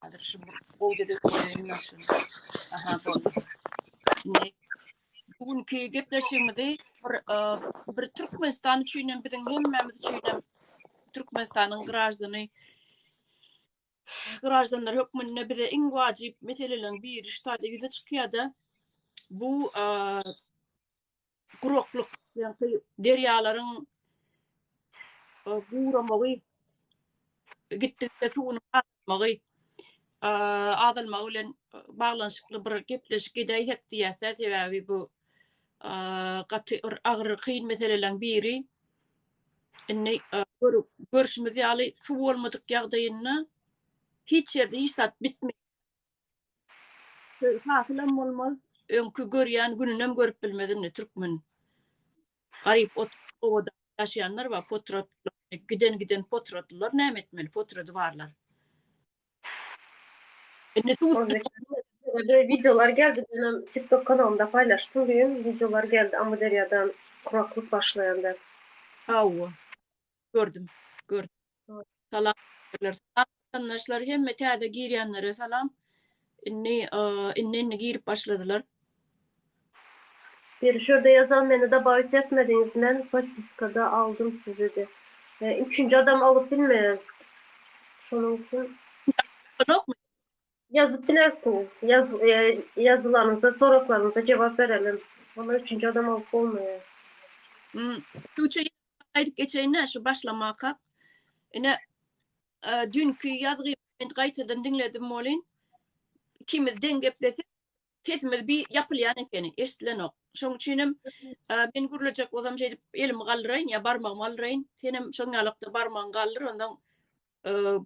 Hazır şu gowja döküleýin maşyn. Aha boldy. Indi bu günki gepleşigimizi bir, e, bir Türkmenistan üçin hem biziň hemmämiz üçin hem Türkmenistanyň graždany graždanlar hökmünde bize iň wajyp meseleleriň biri şu taýda ýüze çykýar-da. Bu e, guraklyk ýa-da derýalaryň e, guramagy gitdikçe suwuň azalmagy e, azalmagy bilen e, baglanyşykly bir gepleşik edäýsek diýýärse sebäbi bu e, gaty bir agyr kyn meseleleriň biri indi görşümiz ýaly suw bolmadyk ýagdaýynda hiç ýerde hiç zat bitmeýär Hasylam bolmaz. Öňki görýän gününem görüp bilmez indi türkmen. Garyp ot obada ýaşaýanlar bar, potrat giden giden potratlylar näme etmeli, potrady barlar. Indi Şeýle wideolar geldi, menem tiktok kanalymda paýlaşdym düýn, wideolar geldi, Amyderýadan kuraklyk başlaýan däl. Hawa. Gördüm. Gördüm. Salam. Salam watandaşlar. Hemme täze girýänlere salam. Indi indi indi girip başladylar. Bir şurada yazan meni dabawit etmediňiz men podpiskada aldym sizi de. Üçünji adam alyp bilmeýäs. Şonuň üçin. Ýokmy? Ýazyp bilersiňiz. Ýazylaryňyza, soraklaryňyza jogap berelim. Muny üçünji adam alyp bolmaýar. Tuçe ýazgyma gaýdyp geçeýin-dä şu başlamakak. Ine, düýnki ýazgymy men gaýtadan diňledim welin, ikimiz deň geplesek, sesimiz bi ýapylýan ekeni, eşidilenok. Şoň üçinem men gürlejek bolsam şeýdip elimi galdyraýyn ýa barmagymy galdyraýyn, senem şoň ýalykda barmagyňy galdyr, onsoň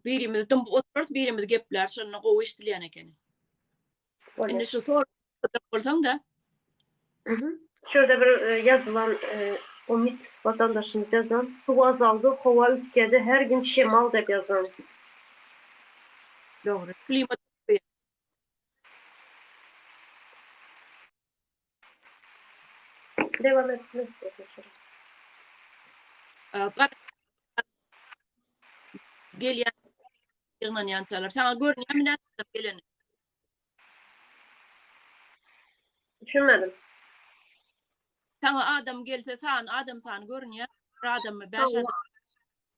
birimiz dymyp oturarys, birimiz gepläris, şonda gowy eşidilýän ekeni. Indi şu sor bolsaň da. Şurada bir e, ýazylan e, Umit watandaşymyz ýazan, suw azaldy, howa üýtgedi, her gün şemal diýip ýazan. Dogry. Klimat Dewam et Gelýän ýygnanýançalar. Saňa görünýärmi näçe geleni? Düşünmedim. Saňa adam gelse san, adam sany görünýär. Bir adammy, bäş adam.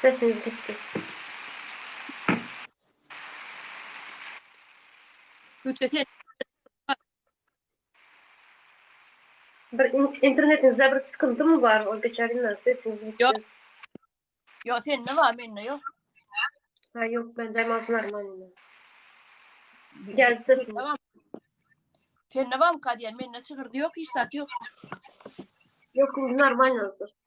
Sesiňiz gitdi. Güýçe sen. Bir internetiňizde bir sıkyntymy bar ol geçen günden sesiňiz gitdi. Ýok. Ýok sende bar mende ýok. Ha ýok mende mas normal. Geldi sesim. Tamam. Sende barmy kadýan? Mende şygyrdy ýok hiç zat ýok. Ýok indi normal hazır.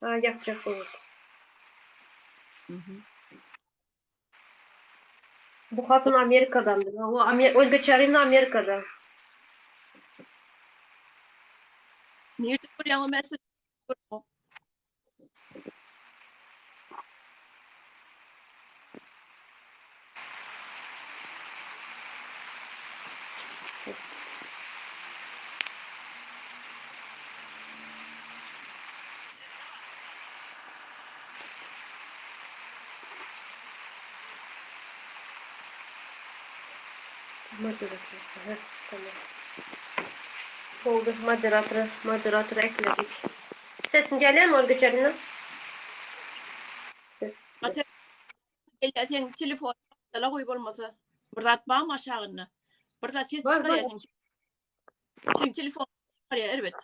Ha ýapjak bolup. Bu hatyn Amerikadan. O Amer Olga Çarina Amerikada. Nirde görýän o mesut? Moderator. Tamam. Oldu. Moderator. Moderator ekledik. Sesin gelýärmi ol geçerinde? Ata ella sen telefon dala goý bolmasa. Bir zat barmy aşagynda? Bir zat ses Bar, bar. çykarýar sen. Sen telefon çykarýar erbet.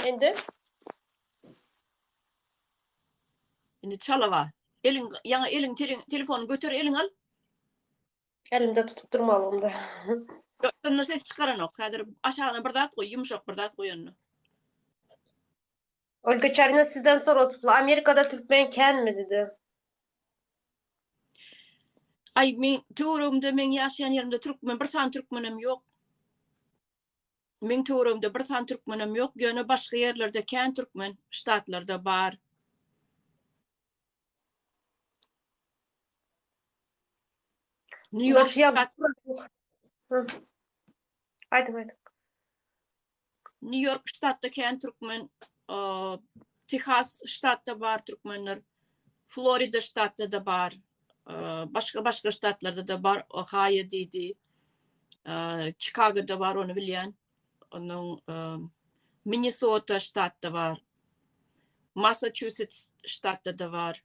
Indi Indi çala bar. Eliň ýaňa eliň tele- telefony göter eliň al. Elimde tutup durmalymda. Ýoksa ses çykaranok. Häzir aşagyna bir zat goý, ýumşak bir zat goýanda. Olga Çarina sizden soradyply, Amerikada türkmen känmi dedi. Ay men töweregimde men ýaşaýan ýerimde türkmen bir sany türkmenem ýok. Meň töweregimde bir san türkmenem ýok, ýöne başga ýerlerde kän türkmen, ştatlarda bar. Nýu-Ýork Aýdyň, aýdyň. Nýu-Ýork ştatda kän türkmen, Tehas ştatda bar türkmenler. Florida ştatda-da bar, başga-başga ştatlarda-da bar, Ohaýo diýdi, Çikagoda bar, ony bilýän. Onuň Minnesota ştatda bar, Massaçusets ştatda-da bar.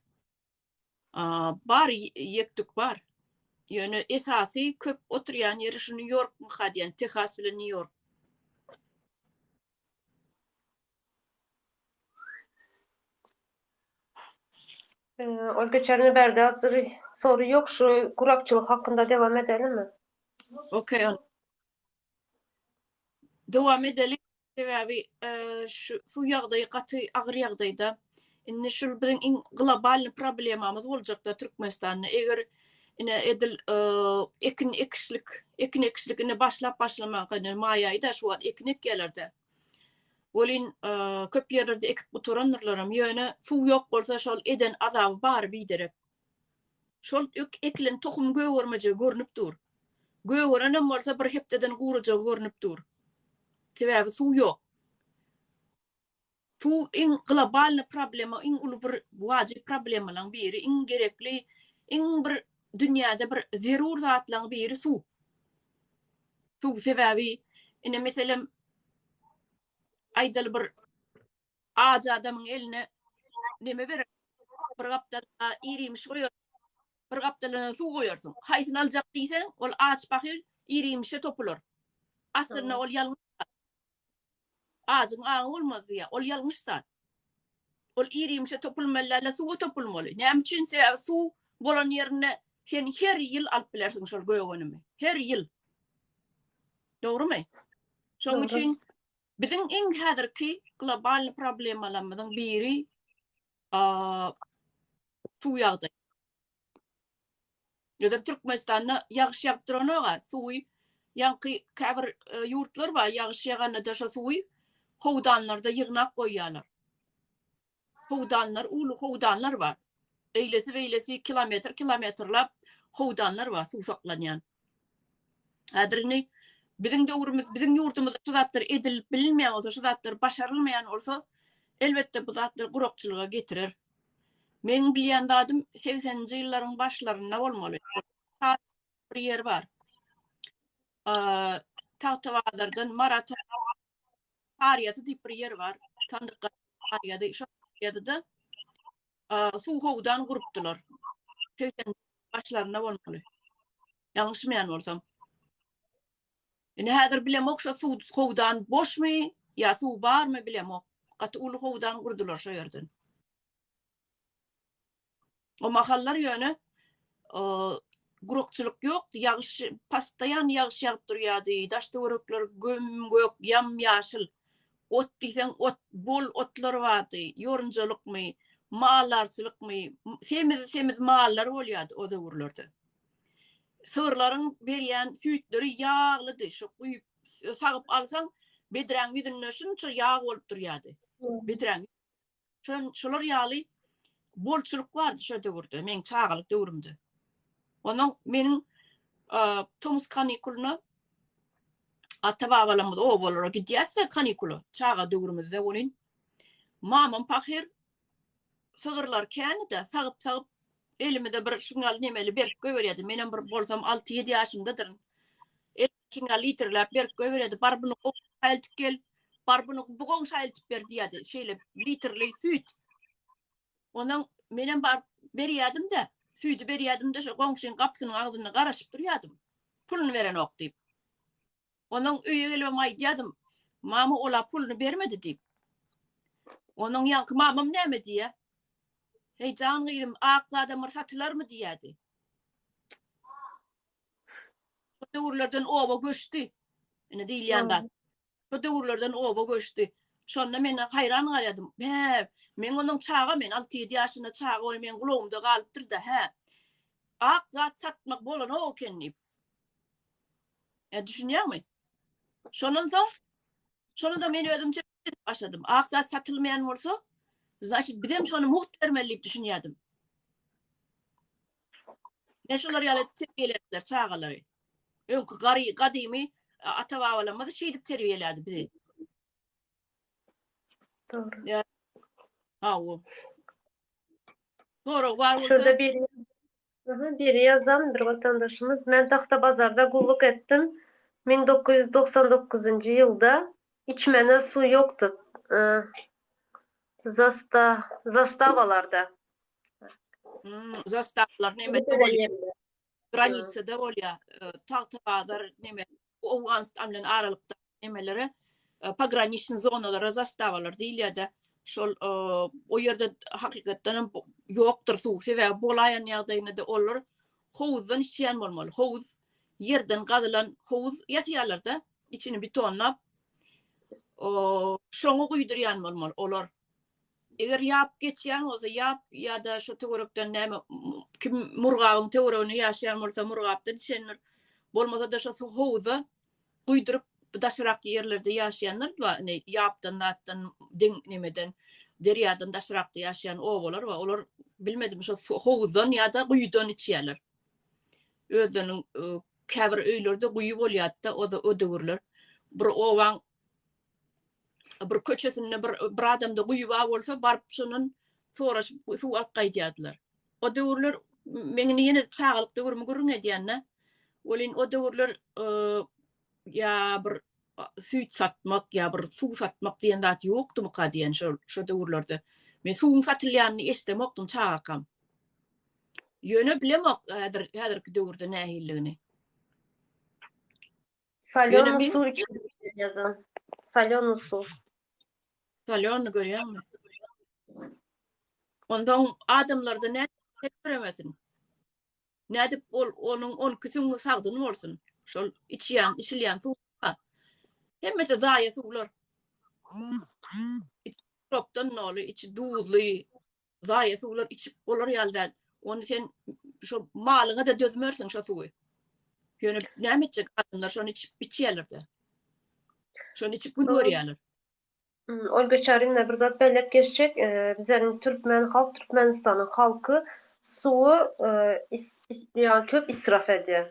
Bar, ýek-tük bar. Ýöne esasy köp oturýan ýeri şu Nýu-Ýorkmuka diýýän, Tehas bilen Nýu-Ýork. Ol geçen bärde azyr soru ýok şu gurakçylyk hakynda dewam edelimi? Okey on. Dowam edeli sebäbi şu suw ýagdaýy gaty agyr ýagdaýda. Indi şul biziň iň globalny problemamyz boljakda Türkmenistanda eger ine edil ekin ekişlik ekin ekişlik indi başlap başlamak indi maý aýyda şu wagt ekin ekýärlerde. Welin köp ýerlerde ekip gutarandyrlaram ýöne suw ýok bolsa şol eden azaby bar biderek. Şol ekilen tohum gögermejegi görnüp dur. Gögerenem bolsa bir hepdeden gurajagy görnüp dur. Sebäbi suw ýok. Suw iň globalny problema, iň uly bir wajyp problemalaň biri, iň gerekli, iň bir dünýäde bir zerur zatlaň biri suw. Suw sebäbi ine meselem aýdaly bir ajy adamyň eline neme berer? Bir gapdal ir-iýmiş goýar, bir gapdalynda suw goýarsyň. Haýsyny aljak diýseň, ol aç pahyr ir-iýmişe topular. Aslynda ol ýalňyş zat. Ajyň aňy bolmaz diýýär. Ol ýalňyş zat. Ol ir-iýmişe topulmaly däl-de, suwa topulmaly. Näme üçin? Sebäbi suw bolan ýerinde sen her ýyl alyp bilersiň şol gögenimi. Her ýyl. Dogrumy? Şonuň üçin biziň iň häzirki globalnyý problemalarymyzyň biri suw ýagdaýy. Ýa-da Türkmenistanda ýagyş ýagyp duranyga suwy ýaňky käbir e, ýurtlar bar, ýagyş ýaganda-da şo suwy howdanlarda ýygnap goýýarlar. Howdanlar, uly howdanlar bar. Eýlesi-beýlesi kilometr kilometrlap howdanlar bar, suw saklanýan. Häzir indi biziň döwrümiz, biziň ýurdumyzda şu zatlar edilip bilinmeýän bolsa, şu zatlar başarylmaýan bolsa, elbetde, bu zatlar gurakçylyga getirer. Meniň bilýän zadym segseninji ýyllaryň başlarynda bolmaly, bir ýer bar. Tagtabazardan Marata Saryýazy diýip bir ýer bar. Sandyk Saryýazy, şo ýerde-de suw howdan gurupdylar. Segsen başlarynda bolmaly. Ýalňyşmaýan bolsam. Indi häzir bilemok şo suw howdan boşmy ýa suw barmy bilemok. Gaty uly howdan gurdular şo ýerden. O mahallar ýöne gurakçylyk ýokdy, ýagyş pastaýan ýagyş ýagyp durýardy, daş-töwerekler göm-gök, ýam-ýaşyl. Ot diýseň ot, bol otlar bardy, ýorunjalykmy, maldarçylykmy, semiz-semiz mallar bolýardy o döwürlerde. Sygyrlaryň berýän süýtleri ýaglydy, şo guýup, sagyp alsaň, bedräň ýüzünde şunça ýag bolup durýardy. Bedräň Şön şolar ýaly bolçulyk bardy şo döwürde, meň çagalyk döwrümde. Onuň meniň tomus kanikulyna ata-babalarymyz obalara gidýärse kanikula, çaga döwrümizde welin mamam pahyr sygyrlar känide sagyp-sagyp elimize bir şuňňal nemeli berip goýberýärdi. Menem bir bolsam alty-ýedi ýaşymdadyryn. içine litrlap berip göberedi. Bar bunu gowşaltyp gel. Bar bunu bu gowşaltyp ber diýerdi. Şeýle litrli süýt. Ondan menem bar berýärdim de, süýdi berýärdim de, şu goňşyň gapysynyň agzynda garaşyp durýardym. Puluny berenok diýip. Ondan öýe gelip aýdýardym, mama ola puluny bermedi diýip. Ondan ýaňky mamam näme diýýär? Heý jan gyzym, ak zadamyr satylarmy diýýärdi. Şu döwürlerden oba göçdi. Ine diýilýän zat. Şu döwürlerden oba göçdi. Şonda men haýran galýadym. Hä, men onuň çaga men 6-7 ýaşynda çaga ol men gulagymda galypdyr-da, hä. Ak zat satmak bolanok eken diýip. E, düşünýäňmi? Şondan soň şonu da men özümçe başladym. Ak zat satylmaýan bolsa, значит, bizem şony mugt bermeli diýip düşünýärdim. Ine şular ýaly terbiýeläpdiler çagalary. Öňki gary gadymy ata-babalarymyz şeýdip terbiýelädi bizi. Dogry. Ýa. Hawa. Sorag bar bolsa. Şurada bir Aha, bir ýazan bir watandaşymyz. Men Tagtabazarda gulluk etdim. 1999-njy ýylda içmene suw ýokdy. Zasta, zastawalarda. zastavlar neme granitsada bolýa e, tagta bazar neme Owganystan bilen aralykda nemelere e, pograniçniý zonalara zastavalar diýilýärdi. Şol e, o ýerde hakykatdan hem ýokdur suw. Sebäbi bolaýan ýagdaýynda olar howuzdan içýän bolmaly. Howuz ýerden gazylan howuz ýasaýarlar-da, içini betonlap. O şoňa guýdurýan bolmaly olar. Eger ýap geçýän bolsa, ýap ýa-da şu töwerekden näme, kim murgabyň töwereginde ýaşaýan bolsa, murgapdan içendir. Bolmasa-da şu su howza guýduryp, daşrak ýerlerde ýaşaýanlar bar, indi ýapdan zatdan, deň nemeden, derýadan daşrakda ýaşaýan obalar bar. Olar bilmedim, şo su howuzdan ýa-da guýudan içýärler. Özleriniň käbir öýlerde guýy bolýardy-da, o-da o döwürler. Bir obaň bir köçesinde bir bir adamda guýy bar bolsa, baryp şondan soraşyp suw alyp gaýdýardylar. O döwürler men indi ýene çagalyk döwrümi gürrüň edýän-de. Welin o döwürler ýa bir süýt satmak, ýa bir suw satmak diýen zat ýokdumyka diýen şol şo döwürlerde. Men suwuň satylýanyny eşidemokdym çagakam. Ýöne bilemok häzir häzirki döwürde nähilidigini. Salýony suw içilip biler ýazan. Salýony suw. Salýony görýäňmi? Onda adamlarda ne göremesin. Nädip ol onuň 12 süňňi sagdyn bolsun. Şol içýän, içilýän suw. Hemmesi zaýa suwlar. Ropdan noly içi duzly. zaýa suwlar içip bolar ýaly däl. Ony sen şo malyňa-da dözmersiň şo suwy. Ýöne näme etjek adamlar şony içip içýärler-de. Şony içip gün görýärler. Ol geçer indi bir zat belläp geçjek. Bizleriň türkmen halk, Türkmenistanyň halky suwy is-is ýa köp israf edýär.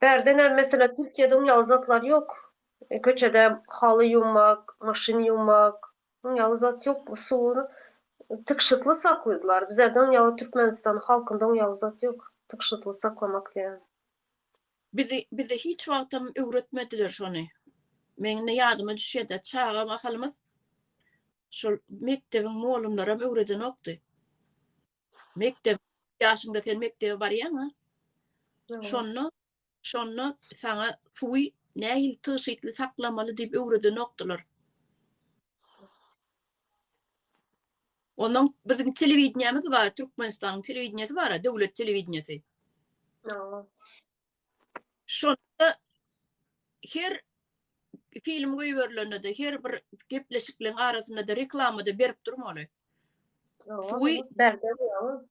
Bärdenä meselä Türkiýede uň ýaly zatlar ýok. Köçede haly ýuwmak, maşyn ýuwmak, uň ýaly zat ýok. Suwuny tygşytly saklaýdylar. Bizerde uň ýaly Türkmenistan halkynda uň ýaly zat ýok. Tygşytly saklamak diýen. Bizi bize hiç wagtam öwretmediler şony. Meň indi ýadyma düşýärde çaga mahalymyz şol mekdebiň molumlaram öwredenokdy. Mekdep ýaşyňda sen mekdebe barýaňa. Şonda şonda saňa suwy nähili tygşytly saklamaly diýip öwredenokdylar. Ondan biziň telewideniýämiz bar, Türkmenistanyň telewideniýesi bar, döwlet telewideniýesi. Şonda her film goýberilende-de, her bir gepleşikliň arasynda-da reklama-da berip durmaly. Suwy berdi ýaly.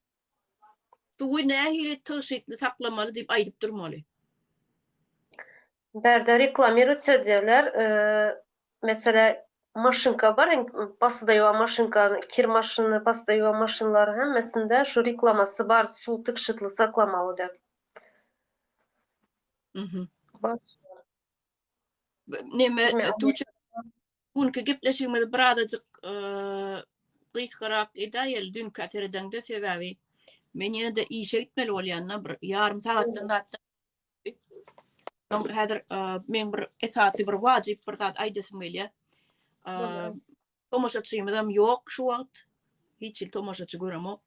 Suwy nähili tygşytly saklamaly diýip aýdyp durmaly. Bärde reklamirowat söýdýärler. Meselä, maşynka bar, basyda ýuwa maşynka, kir maşyny, basyda ýuwa maşynlary hemmesinde şu reklamasy bar, suw tygşytly saklamaly diýip. Mhm. Bas. Neme Neme? Tuğçe günki gepleşigimizi birazajyk eee, gysgarak edäýeli dünkü seredende sebäbi men ýene de işe gitmeli bolýan bir ýarym sagatdan zatda. Soň häzir eee, men bir esasy bir wajyp bir zat aýdasym gelýär. Eee, Bolýar. tomaşaçymyz hem ýok şu wagt. Hiç hil tomaşaçy göremok.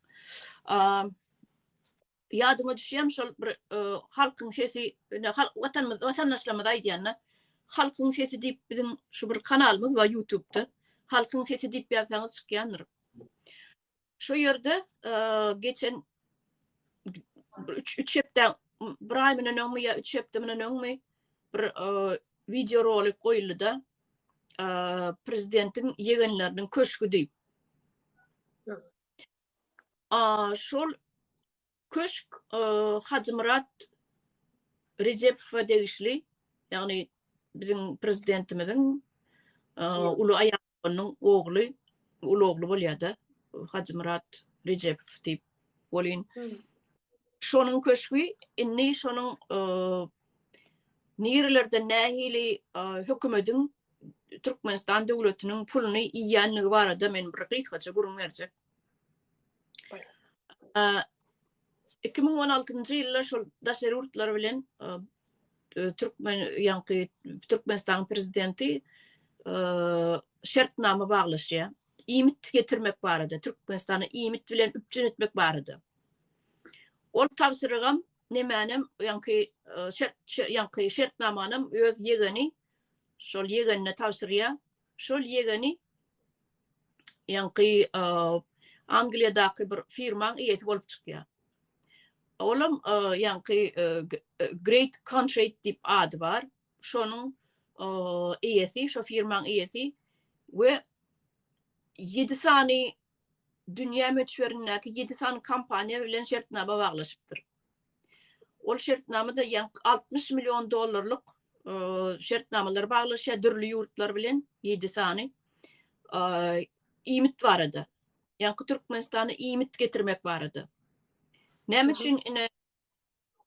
Eee, Ýadyňa düşýärmi şol bir halkyň sesi watanymyz watandaşlarymyz aýdýanda halkyň sesi diýip biziň şu bir kanalymyz bar ýutubda halkyň sesi diýip ýazsaňyz çykýandyr. Şo ýerde geçen üç üç hepde bir aý menen öňmi ýa üç hepde menen öňmi bir wideo rolik goýuldy da prezidentiň ýegenleriniň köşgi diýip. şol köşk Hajymyrat Rejepova degişli, ýagny biziň prezidentimiziň uly aýalynyň ogly, uly ogly bolýar-da, Hajymyrat Rejepow diýip welin, şonuň köşgi indi şonuň nirelerde nähili hökümediň Türkmenistan döwletiniň puluny iýýändigi barada men bir gysgaça gürrüň berjek. 2016-njy ýylda şol daşary ýurtlar bilen Türkmen ýaňky Türkmenistanyň prezidenti şertnama baglaşýar. Iýmit getirmek barada, Türkmenistana iýmit bilen üpjün etmek barada. Ol tabşyrygam nemänem ýaňky şert ýaňky şertnamanam öz ýegeni şol ýegenine tabşyrýar. Şol ýegeni ýaňky Angliýadaky bir firmaň eýesi bolup çykýar. Olam ýaňky Great Contract diýip ady bar. Şonuň eýesi, şo firmaň eýesi we 7 sany dünýä möçberindäki ýedi sany kompaniýa bilen şertnama baglaşypdyr. Ol şertnamada ýaňky altmyş million dollarlyk şertnamalary baglaşýar dürli ýurtlar bilen ýedi sany iýmit barada. Ýaňky Türkmenistana iýmit getirmek barada. Näme üçin ine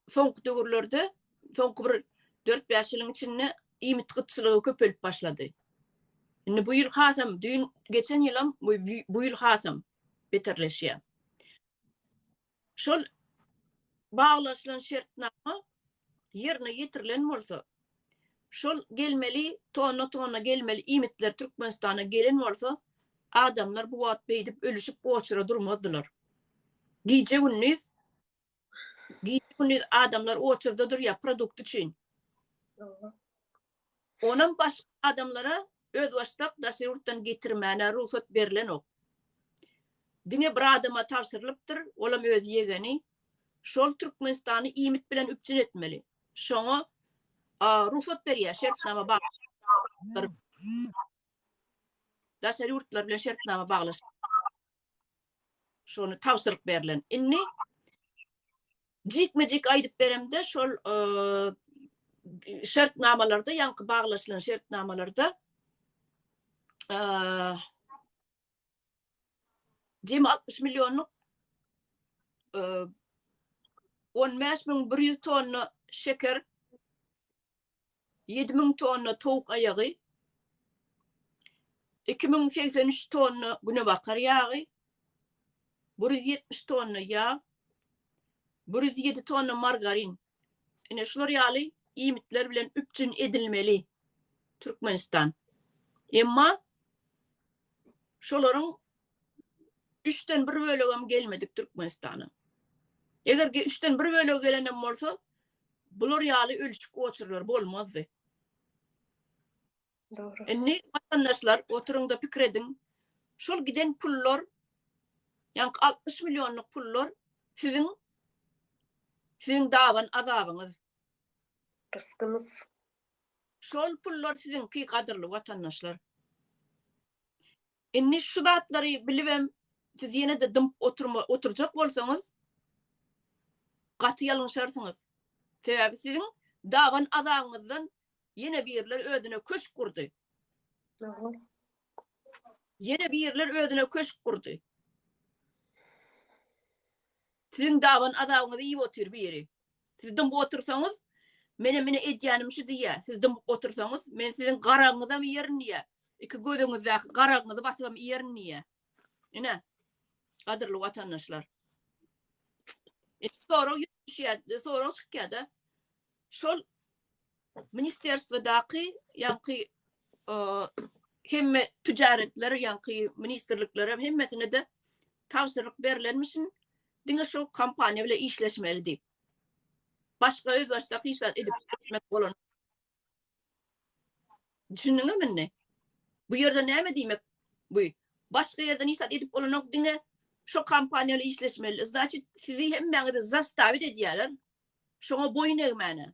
soňky döwürlerde, soňky bir dört bäş ýylyň içinde iýmit gytçylygy köpelip başlady. Indi bu ýyl hasam, düýn, geçen ýylam, bu ýyl hasam beterleşýär. Şol baglaşylan şertnama ýerine ýetirilen bolsa, şol gelmeli, tonna-tonna gelmeli iýmitler Türkmenistana gelen bolsa, adamlar bu wagt beýdip ölüşip oçura durmazdylar. Gije-gündiz Gije-gündiz adamlar oçerda durýar produkt üçin. Onam başga adamlara özbaşdak daşary ýurtdan getirmäne rugsat berlenok. Diňe bir adama tabşyrylypdyr, olam öz ýegeni. Şol Türkmenistany iýmit bilen üpjün etmeli. Şoňa rugsat berýär şertnama baglaşyp. Daşary ýurtlar bilen şertnama baglaşyp. şony tabşyryk berlen. Indi jikme-jik aýdyp beremde şol şertnamalarda, ýaňky baglaşylan şertnamalarda jemi 60 millionlyk 15100 tonna şeker Ýedi müň tonna towuk aýagy, iki müň segsen üç tonna günebakar ýagy, bir ýüz ýetmiş tonna ýag, bir ýüz ýedi tonna margarin, ine, şular ýaly iýmitler bilen üpjün edilmeli Türkmenistan. Emma şolaryň üçden bir bölegem gelmedik Türkmenistana. Eger üçden bir bölegi gelen hem bolsa, Bular ýaly ölçik oçurlar bolmazdy. Dogry. Indi watandaşlar oturyňda pikir ediň. Şol giden pullar ýa-ni 60 millionlyk pullar siziň siziň daban azabyňyz. Rysgymyz. Şol pullar siziňki gadyrly watandaşlar. Indi şu zatlary bilibem siz ýene-de dymyp oturma oturjak bolsaňyz gaty ýalňyşarsyňyz. Sebäbi siziň daban azagyňyzdan ýene birler özüne köşk gurdy. Ýene birler özüne köşk gurdy. Siziň daban azagyňyzy iýip otyr biri. Siz dymyp otursaňyz, menem ine edýänim şu diýýär. Siz dymyp otursaňyz, men siziň garagyňyzam iýerin diýýär. Iki gözüňizdäki garagyňyzy basybam iýerin diýýär. Ine, gadyrly watandaşlar. Sorag ýüzleşýär, sorag çykýar-da. Şol Ministrstwadaky ýaňky hemme tijaretler ýaňky ministrlikler hemmesine de tabşyryk berilenmişin diňe şol kompaniýa bilen işleşmeli diýip. Başga öz başda hyşat edip gitmek bolan. Düşündüňiz mini? Bu ýerde näme diýmek? Bu başga ýerden işat edip bolanok diňe şu kompaniýaly işleşmeli. Значит, sizi hemmäňizi zastavit edýärler. Şoňa boýun egmäne.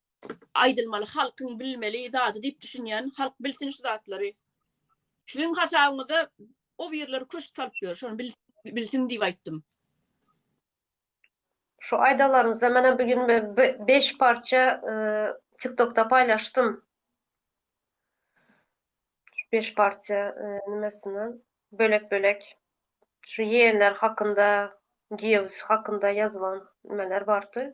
aýdylmaly halkyň bilmeli zady diýip düşünýän halk bilsin şu zatlary siziň hasabyňyza o birler köşk salyp ýör şony bilsin diýip aýtdym. Şu aýdanlaryňyzdan menem bu gün beş parça tiktokda paýlaşdym. Şu beş parça nimesini bölek bölek şu ýegenler hakynda giýewisi hakynda ýazylan nimeler bardy.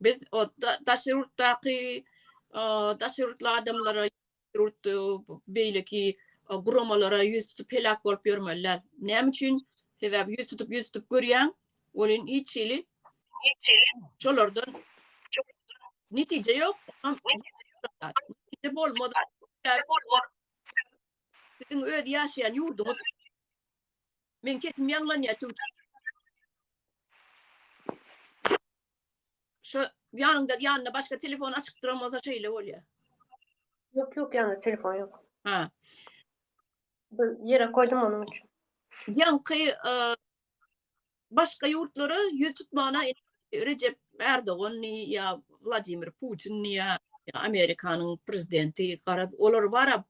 Biz daşary ýurtdaky daşary ýurtly adamlara beýleki guramalara ýüz tutup heläk bolup ýörmeliler. Näme üçin? Sebäbi ýüz tutup ýüz tutup görýäň, welin hiç hili şolardan netije ýok. Netije bolmaz. Siziň öz ýaşaýan ýurduňyz Meň sesim ýaňlanýar tüwtek. Şo ýanyňda ýanyna başga telefon açyk duran bolsa şeýle bolýar. Ýok ýok ýanymda telefon ýok. Ha. Bir ýere goýdum onuň üçin. Ýaňky başga ýurtlara ýüz tutmana Rejep Erdoganmy ýa Wladimir Putinmi ýa Amerikanyň prezidenti garaz olar bara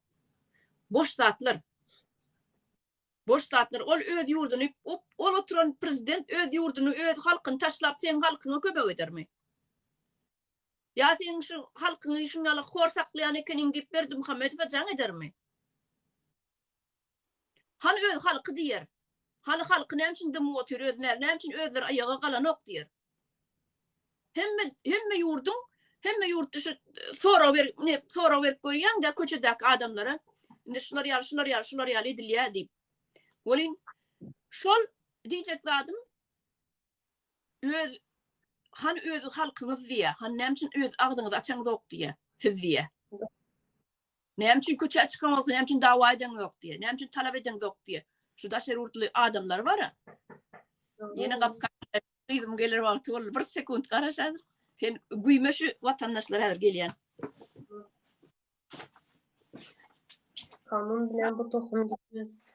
boş zatlar. Boş zatlar. Ol öz ýurduny, ol oturan prezident öz ýurduny, öz halkyny taşlap, seň halkyňa kömek edermi? Ýa seň şu halkyňy şuňala hor saklaýan ekeniň diýip Berdimuhamedowa jaň edermi? Hany öz halky diýer. Hany halky näme üçin dymyp otyr öz näme näme üçin özleri aýaga galanok diýer. Hemme hemme ýurduň hemme ýurt dışı sorag ber ne sorag berip görýäň de köçedäki adamlara indi şular ýaly şular ýaly şular ýaly edilýär diýip. Welin şol diýjek zadym öz han öz halkyňyz diýä, han näme üçin öz agzyňyzy açaňyzok diýä, siz diýä. Näme üçin köçä çykan bolsa, näme üçin dawa edeň ýok diýýär. Näme üçin talap edeň zok diýýär. Şu daşary ýurtly adamlar bara. Ýene gapy gyzym geler wagty boldy. Bir sekunt garaş häzir. Sen güýme şu watandaşlar häzir gelýän. Kanun bilen bu tohum gitmez.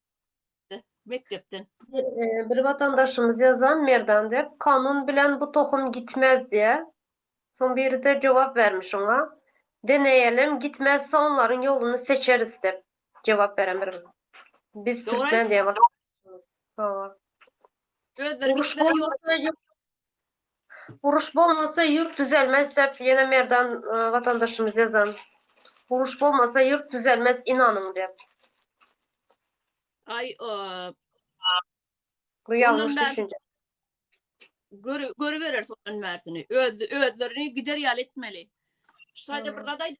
mekdepden. Bir watandaşymyz ýazan Merdan dep kanun bilen bu tohum gitmez diýä soň biride jogap bermiş oňa deneýelem gitmezse onlaryň ýoluny seçeris dep jogap beren bir biz türkmen diýen watandaşymyz. Hawa. Özleri gitmez ýoluny. Uruş bolmasa ýurt düzelmez dep ýene Merdan watandaşymyz ýazan. Uruş bolmasa ýurt düzelmez inanyň dep. Aý Bu ýalňyş düşünje. Görübereris ondan bärsini. Özlerini gider ýaly etmeli. Sadece bir zat aýdyp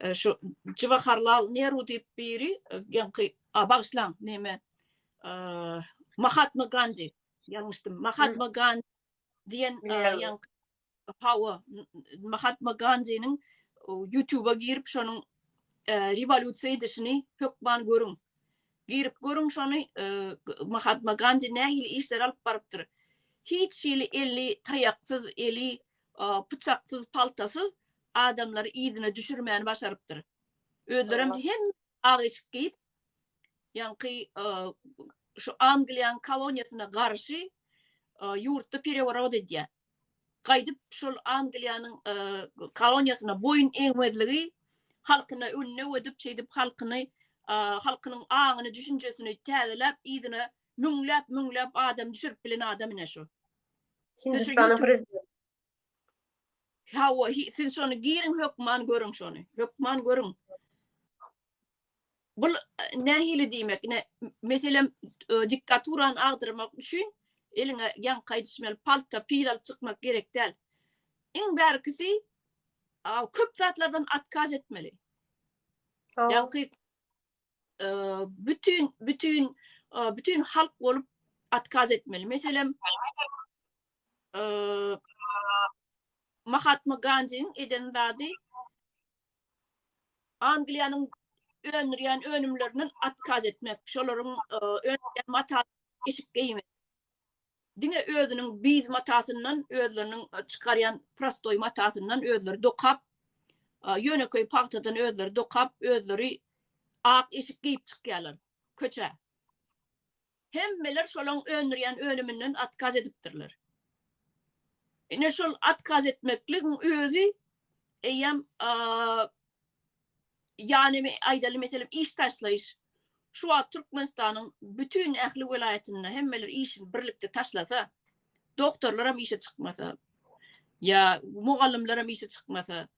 E, şu Jivaharlal Neru diýip biri ýaňky e, a bagşlaň näme e, Mahatma Gandhi ýalňyşdym Mahatma Gandhi diýen ýaňky hawa Mahatma Gandhiniň YouTube-a girip şonuň rewolýusiýa edişini hökman görüň. Girip görüň şony Mahatma Gandhi nähili işler alyp barypdyr. Hiç hili eli taýaksyz, eli pyçaksyz, paltasyz adamlary yzyna düşürmäni başarypdyr. Özlerem hem ak eşik geýip, ýaňky şu Angliýanyň koloniýasyna garşy ýurtda pereworot edýär. Gaýdyp şol Angliýanyň koloniýasyna boýun egmezligi halkyna önne ödüp, şeýdip halkyny halkynyň aňyny, düşünjesini täzeläp, yzyna Müňläp müňläp adam düşürip bilen adam ine şu. Hindistanyň prezidenti. Hawa, siz şony girin hökman görüň şony. Hökman görüň. Bul nähili diýmek? Ne meselem e, diktaturany agdyrmak üçin eliňe ýan gaýdyşmaly palta pil alyp çykmak gerek däl. Iň bärkisi köp zatlardan atkaz etmeli. Ýa-ki bütün bütün bütün halk bolup atkaz etmeli. Meselem Mahatma Gandhi'nin eden zady Angliýanyň öndürýän önümlerinden atkaz etmek. Şolaryň öndürýän mata eşik geýmek. diňe özüniň biýz matasyndan, özleriniň çykarýan prostoý matasyndan özleri dokap, ýönekeý pagtadan özleri dokap, özleri ak eşik geýip çykýarlar köçä. Hemmeler şolaň öndürýän önüminden atkaz edipdirler. Ine şol atkaz etmekligiň özi eýýäm Ýagny, aýdaly, meselem, iş taşlaýyş. Şu wagt Türkmenistanyň bütin ähli welaýatynda hemmeler işini birlikde taşlasa, doktorlaram işe çykmasa, ýa mugallymlaram işe çykmasa,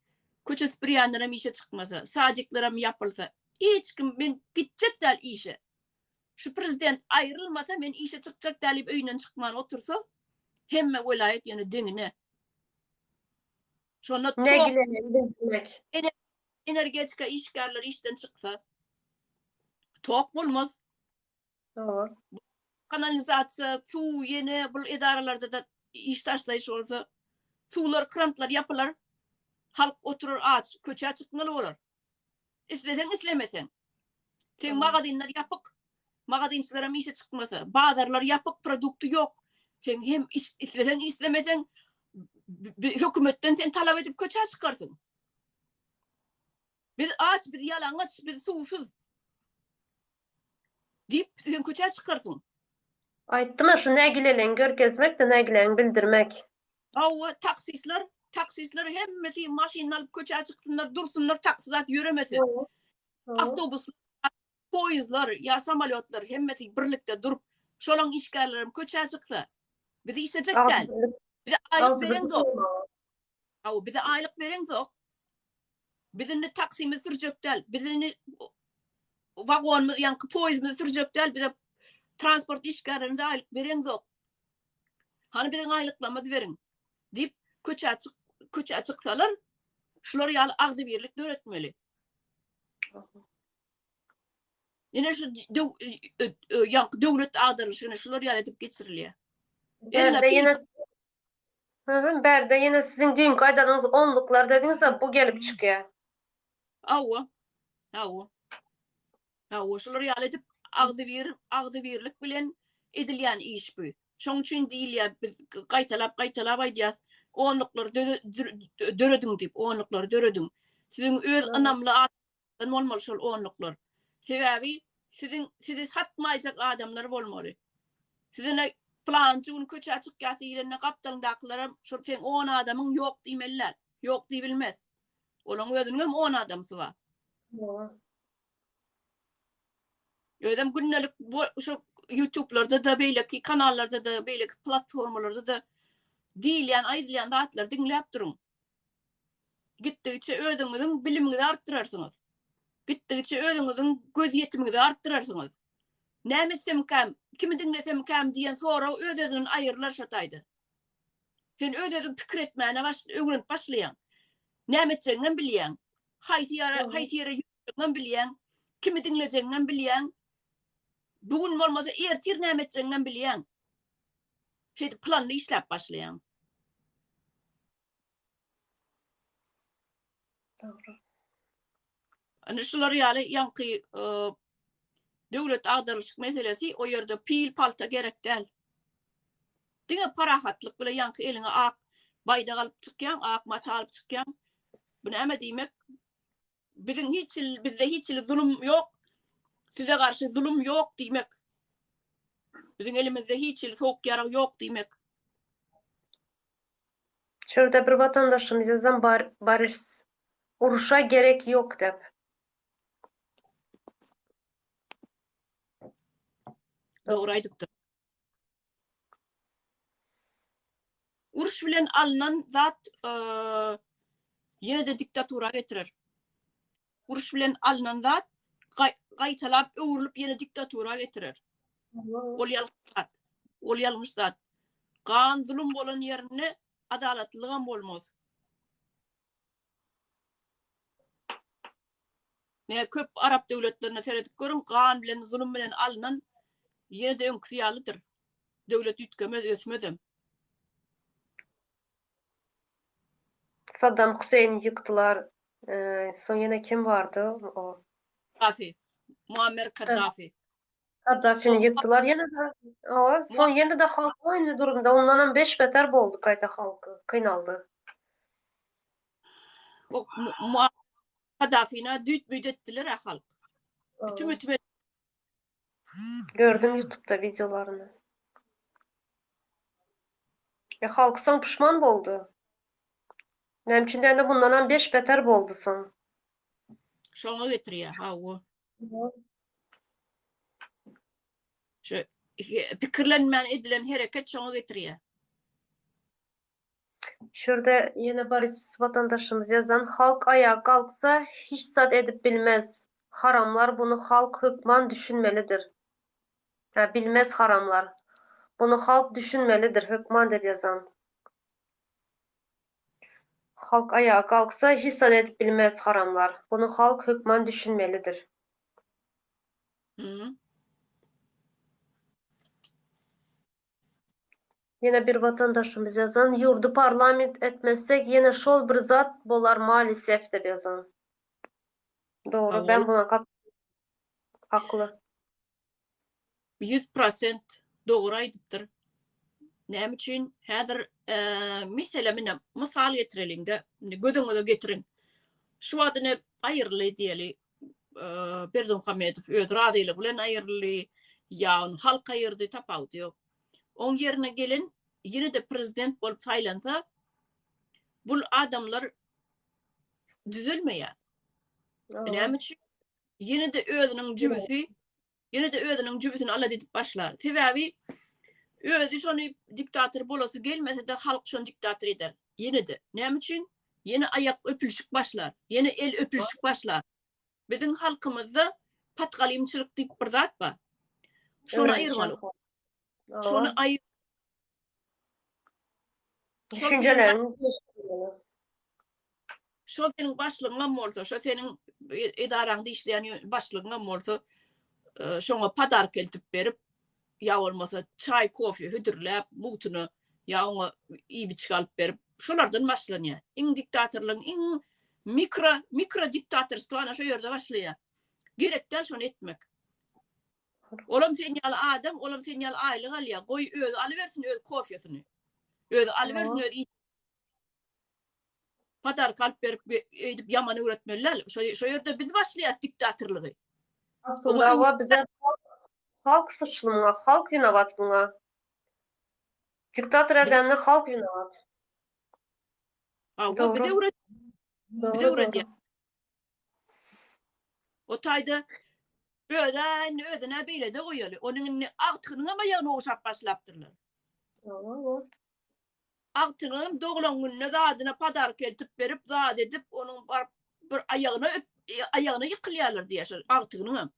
köçe süpürýänlerem işe çykmasa, sadikleram ýapylsa, hiç kim men gitjek däl işe, şu prezident aýrylmasa men işe çykjak däl diýip öýünden çykman otursa, hemme welaýat ýöne deňine. Şonda tok energetika işgärleri işden çyksa, tok bolmaz. Dogry. Kanalizasiýa, suw, ýene bu edaralarda-da iş taşlaýyş bolsa, suwlar, krantlar ýapylar, halk oturar aç, köçä çykmaly bolar. Isleseň islemeseň. Seň magazynlar ýapyk. Magazynçylaram işe çykmasa, bazarlar ýapyk, produkty ýok. Sen hem isleseň islemeseň hökümetden sen talap edip köçä çykarsyň. Biz aç, biz ýalaňaç, biz suwsuz. Diýip, sen köçä çykarsyň. Aýtdylar, şu nägileligiňi görkezmek-de nägilegiňi bildirmek. Hawa, taksistler, taksistler hemmesi maşynyny alyp köçä çyksynlar, dursunlar, taksi zat ýöremesin. Awtobus, poýezdler ýa samolýotlar hemmesi birlikde durup, şolaň işgärleri hem köçä çyksa, bizi işlejek däl. Bize aýlyk bereňzok. Hawa, bize aýlyk bereňzok. Biz indi taksimizi sürjek däl. Biz indi wagonymyzy, ýaňky poýizimizi sürjek däl. Bize transport işgärlerinde aýlyk bereňzok. Hany biziň aýlyklarymyzy beriň diýip köçä çyk köçä çyksalar şular ýaly agzybirlik döretmeli. Ine şu ýaňky döwlet agdarylyşyny şular ýaly edip geçirilýär. Ýene Hüm bärde ýene siziň düýnki aýdanyňyz onluklar dediňizä bu gelip çykýa. Hawa. Hawa. Hawa şular ýaly edip agzybir agzybirlik bilen edilýän iş bu. Şoň üçin diýilýä biz gaýtalap gaýtalap aýdýas onluklar dörediň diýip onluklar dörediň. Siziň öz ynamly bolmaly şol onluklar. Sebäbi siziň sizi satmaýjak adamlar bolmaly. Sizine plançy gün köçä çykýasy girende gapdalyndakylara şol sen 10 adamyň ýok diýmeliler. Ýok diýbilmez. Olaň özüniň hem 10 adamsy bar. Özem gündelik bu şu YouTube-larda da beýleki kanallarda da beýleki platformalarda da diýilýän aýdylýan zatlary diňläp duruň. Gitdigiçe özüňiziň bilimiňizi artdyrarsyňyz. Gitdigiçe özüňiziň gözýetimiňizi artdyrarsyňyz. Näme etsemikäm, kimi diňlesemkäm diýen sorag öz-özünden aýrylar şo taýda. Sen öz-özüň pikir etmäne baş, öwrenip başlaýaň. Näme etjegiňem bilýäň. Haýsy ýere, haýsy ýere ýörjegiňem bilýäň. Kimi diňlejegiňem bilýäň. Bu gün bolmasa ertir näme etjegiňem bilýäň. Şeýdip planly işläp başlaýaň. Dogry. Indi şular ýaly ýaňky döwlet agdarylyşyk meselesi, o ýerde pil, palta gerek däl. Diňe parahatlyk bilen ýaňky eliňe ak baýdak alyp çykýaň, ak mata alyp çykýaň. Bu näme diýmek? biziň hiç bizde hiç hili zulum ýok. Size garşy zulum ýok diýmek. Biziň elimizde hiç hili sowuk ýarag ýok diýmek. Şurada bir vatandaşymyz ýazan bar, barys uruşa gerek ýok diýip. Dogry aýdypdyr. Uruş bilen alnan zat ýene-de diktatura getirer. Uruş bilen alnan zat gaýtalap öwrülip ýene diktatura getirer. Ol ýalňyş zat. Ol ýalňyş zat. Gan zulum bolan ýerinde adalatlylygam bolmaz. Nä köp arap döwletlerine seredip görüň, gan bilen, zulum bilen alnan ýene-de öňküsi ýalydyr. Döwlet üýtgemez, ösmezem. Saddam Huseýni ýykdylar, soň ýene kim bardy o? Kaddafi. Muammer Kaddafi. Gaddafini ýykdylar ýene-de. Owa, soň ýene-de halk oýunly durumda, ondanam beş-beter boldy gaýta halk, kynaldy. O, Muammar Gaddafini-ä düýt-büýt etdiler-ä halk. Bitim-bitim etdiler. Gördüm ýutubda wideolaryny. E, halk soň puşman boldy. Näme üçin diýende, mundanam beş-beter boldy soň. Şoňa getirýär, hawa. Şu pikirlenmän edilen hereket şoňa getirýär. Şurada ýene bir watandaşymyz ýazan, halk aýaga galksa hiç zat edip bilmez. Haramlar bunu halk hökman düşünmelidir. Hä bilmez haramlar. Bunu halk düşünmelidir hökman dep ýazan. Halk aýaga galksa hiç zat edip bilmez haramlar bunu halk hökman düşünmelidir. Hı. Yine bir vatandaşymyz yazan yurdu parlament etmezsek yine şol bir zat bolar malisef dep yazan. Doğru ben buna kat haklı. ýüz prosent dogry aýdypdyr. Näme üçin? Häzir meselem ine mysal getireliňde, indi göz öňüňize getiriň. Şu wagt ine aýryldy diýeli, Berdimuhamedow öz razylygy bilen aýryldy, ýa ony halk aýyrdy, tapawudy ýok. Oň ýerine gelen ýene-de prezident bolup saýlansa, bul adamlar düzelmeýär. Näme üçin? ýene-de özüniň jübüsi, ýene-de özüniň jübüsini alady diýip başlar. Sebäbi özi şony diktator bolasy gelmese-de halk şony diktator eder. Ýene-de. Näme üçin? Ýene aýak öpülişik başlar, ýene el öpülişik başlar. Biziň halkymyzda patgalymçylyk diýip bir zat bar. Şony aýyrmaly. Şony aýyr düşünjelerini gelişdirmeli. Şol seniň başlygyňam bolsa, şo seniň e, edaraňda işleýän başlygyňam bolsa, e, şoňa podark eltip berip, ýa bolmasa çaý, kofe hödürläp, mugtyna ýa oňa iýip-içgi alyp berip, şolardan başlanýar. Iň diktatorlygyň iň mikro mikro diktatorstwo ana şo ýerde başlaýar. Gerekden şony etmek. Olam sen ýaly adam, olam sen ýaly aýlyk alýa. Goý özi alybersin öz kofýasyny. Özi alybersin öz iş. Padarka alyp berip öýdüp ýaman öwretmeli däl. Şo şo ýerde biz başlaýas diktatorlygy. Aslynda wa bize halk suçly muňa, halk winawat buňa. Diktator edende halk winawat. Aw, bize öwret. Bize öwret. O taýda özi indi özüne beýlede goýaly. Onuň indi agtygynyňam aýagyny ogşap başlapdyrlar. Ýok. Agtygynyň doglan gününe zadyna padark eltip berip, zat edip, onuň baryp bir aýagyna öp, e, aýagyna ýykylýarlar diýýär şol agtygynyňam.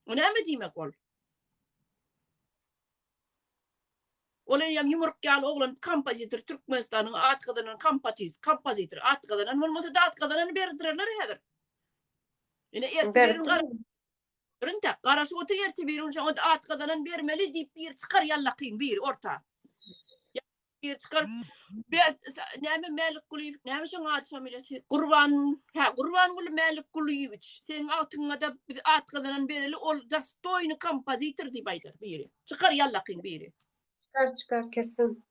O näme diýmek ol? Ol eýýäm ýumruk ýaly oglan kompozitor, Türkmenistanyň at gazanan kompatiz, kompozitor, at gazanan bolmasa-da at gazanany berdirerler häzir. Ine ertir Ber. birin gara Bir intäk, garaşyp otur ertir birin şoňa at gazanan bermeli diýip biri çykar ýallakyn biri orta. bir çykar. Ben näme Mälik Gulyýew, näme şoň ady familiýasy? Gurban, hä, Gurban Guly Mälik Gulyýewiç. Seniň atyňa da biz at gazanan bereli, ol dostoýny kompozitor diýip aýdar biri. Çykar ýallakyn biri. Çykar, çykar kesin.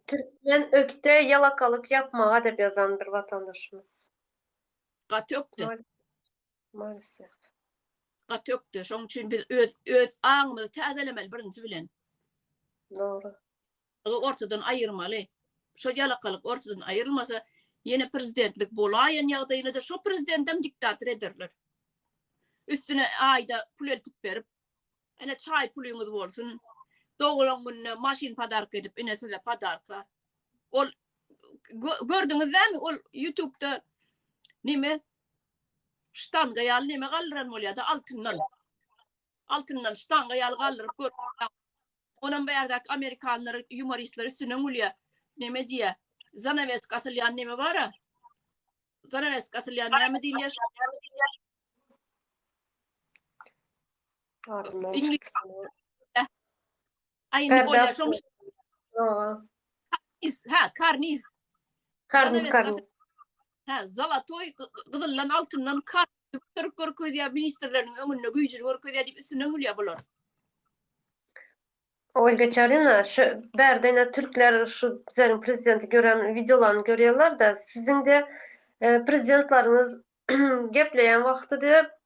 Türkmen ökde ýalakalyk ýapmaga dep ýazan bir watandaşymyz. Gaty ökde. Maalesef. Gat ýokdy. Şoň üçin biz öz öz aňymyzy täzelemeli birinji bilen. Dogry. Ýa ortadan aýyrmaly. Şo ýalakalyk ortadan aýyrylmasa, ýene prezidentlik bolaýan ýagdaýynda-da şo prezidentem diktator ederler. Üstüne aýda pul eltip berip, ene çaý pulyňyz bolsun. Doglan gününe maşyn padarka edip, ene size padarka. Ol gö- gördüňiz näme? Ol YouTube-da nime Ştanga ýaly neme galdyran bolýada altyndan. Altyndan ştanga ýaly galdyryp gör. Onam bärdäki amerikanlar yumoristler üstünden gülýä. Neme diýä? Zanawesk asylýan neme bara? Zanawesk asylýan näme diýilýär? Ingilis. Aýyny bolýar şoň. Is, ha, karniz. Karniz, karniz. Hä, zolotoý, gyzyldan, altyndan kar göterip görkezýär, ministrleriniň öňünde güýjüni görkezýär diýip üstünden gülýär bular. Olga Çarina, şu bärde ine türkler şu bizleriň prezidenti gören wideolaryny görýärler-de, siziň-de e, prezidentleriňiz gepleýän wagty-da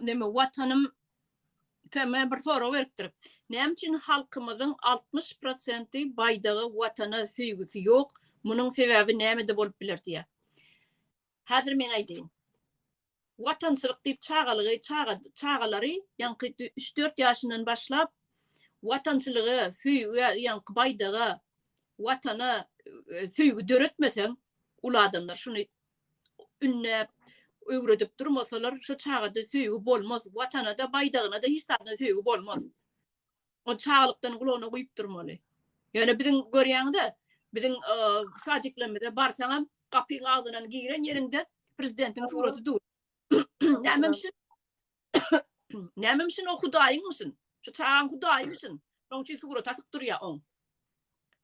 neme watanym tema bir sorag beripdir. Näme üçin halkymyzyň 60 prosenti baýdaga, watana söýgüsi ýok? Munuň sebäbi nämede bolup biler diýýär. Häzir men aýdaýyn. Watançylyk diýip çagalygy, çaga, çagalary, ýaňky üç-dört ýaşyndan başlap watançylyga, söýgä, ýaňky baýdaga, watana e, söýgi döretmeseň, ul adamlar şuny ündäp öwredip durmasalar şu çagada söýgi bolmaz watanada baýdagynada hiç zadna söýgi bolmaz o çaglykdan gulagyna guýup durmaly ýöne biziň görýäňize biziň sadiklerimize barsaňam gapyň agzynan giren ýeriňde prezidentiň suraty dur näme üçin Nämemşin o hudaýyňmyşyn? Şu çagaň hudaýymyşyn? Şoň üçin surat asyp durýar oň.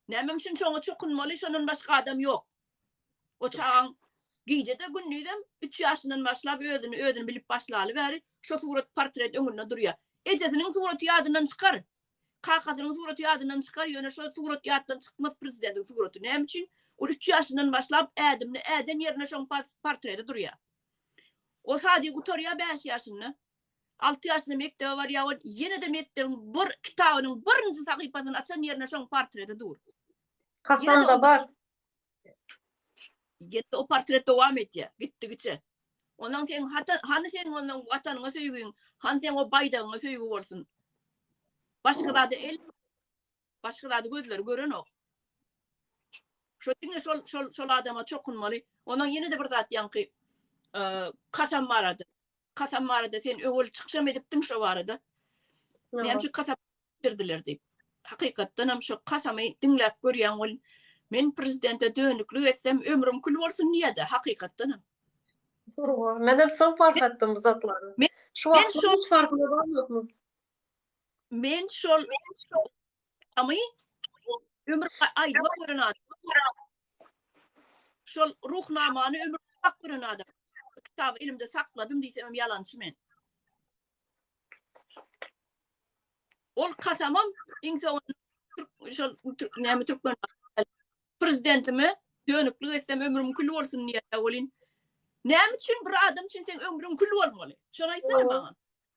Nämemşin şoňa çokunmaly, şondan başga adam ýok. O çagaň gije-de gündizem 3 ýaşyndan başlap özüni özüni bilip başlaly bäri şu surat portret öňünde durýar. Ejesiniň suraty ýadyndan çykar. Kakasynyň suraty ýadyndan çykar, ýöne şu surat ýatdan çykmaz prezidentiň suraty. Näme üçin? Ol 3 ýaşyndan başlap ädimini äden ýerinde şoň portreti durýar. O sady gutarýar bäş ýaşynda. Alty ýaşynda mekdebe barýar, ol ýene-de mekdebiň bir kitabynyň birinji sahypasyny açan ýerinde şoň portreti dur. Hasanda bar. Ýene-de o portret dowam etýär, gitdigiçe. Ondan sen hata, hany sen ondan watanyňa söýgiň, hany sen o baýdagyňa söýgi bolsun. Başga zada el Başga zady gözleri görenok. Şo diňe şol şol şol adama çokunmaly. Ondan ýene-de bir zat ýaňky kasam barada. Kasam barada sen öwül çykşam edipdiň şo barada. Näme üçin kasam berdiler diýip. Hakykatdan hem şo kasamy diňläp görýän ol men prezidente dönüklik etsem ömrüm kül bolsun diýdi hakykatdan hem. Men hem şo fark etdim bu zatlary. Şu wagt hiç farkyna barmyşmyz. Men şol amy ömür aýdyp gören adam. Şol ruhnamany ömür aýdyp gören adam. Kitaby elimde sakladym diýsem hem ýalançy men. Ol kasamam iň soňunda şol näme türkmen prezidentime dönüklik etsem ömrüm kül bolsun diýýär welin. Näme üçin bir adam üçin sen ömrüň kül bolmaly? Şony aýtsana maňa.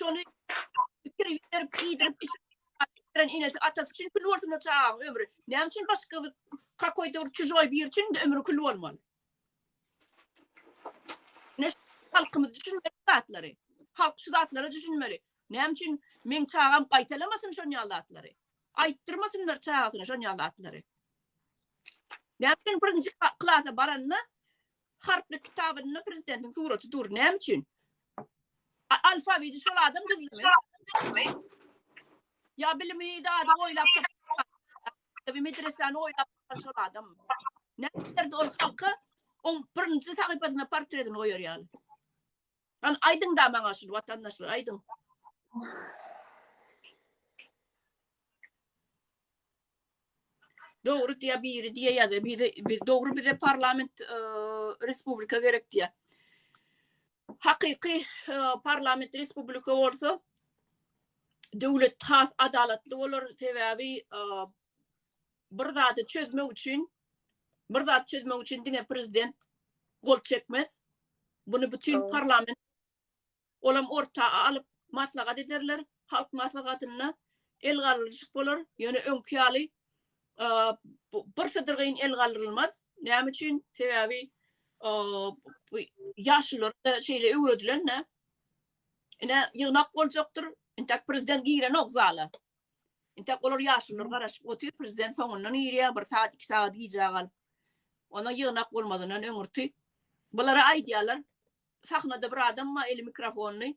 Şony pikir ýüzlerip, iýdirip, içirip, enesi, atasy üçin kül bolsun o çagaň ömri. Näme üçin başga bir kakoýda bir çujoý biri üçin de ömri kül bolmaly? Ne halkymyz düşünmeli zatlary. Halk şu zatlara düşünmeli. Näme üçin men çagam gaýtalamasyn şon ýaly zatlary? Aýtdyrmasynlar çagasyna şon ýaly zatlary. Näme üçin birinji klasa baranda Harplyk kitabynda prezidentiň suraty dur. Näme üçin? Alfabeti şol adam düzdümi? Ya bilimi dady oýlap tapyp, medresany oýlap tapan şol adam. Näderdi ol halka on birinji sahypasyna portretini goýar ýaly. An aýdyň da maňa şu watandaşlar aýdyň. Dogry diýýär biri diýýär ýa-da bize biz dogry bize parlament e, respublika gerek diýýär. Hakyky e, parlament respublika bolsa döwlet has adalatly bolar sebäbi e, bir zady çözmek üçin bir zat çözmek üçin diňe prezident gol çekmez. Bunu bütün Doğru. parlament Olam orta alyp maslahat ederler, halk maslahatynda el galdyryşyk bolar, ýöne öňki ýaly bir sydyrgyn el galdyrylmaz. Näme üçin? Sebäbi bu ýaşulylara şeýle öwredilen-de. Ine ýygnak boljakdyr, intäk prezident girenok zala. Intäk olar ýaşulylar garaşyp otyr, prezident soňundan girýär, bir sagat, iki sagat gijä galyp. Onda ýygnak bolmazyndan öňürti bulara aýdýarlar, Sahnada bir adam bar, eli mikrofonly.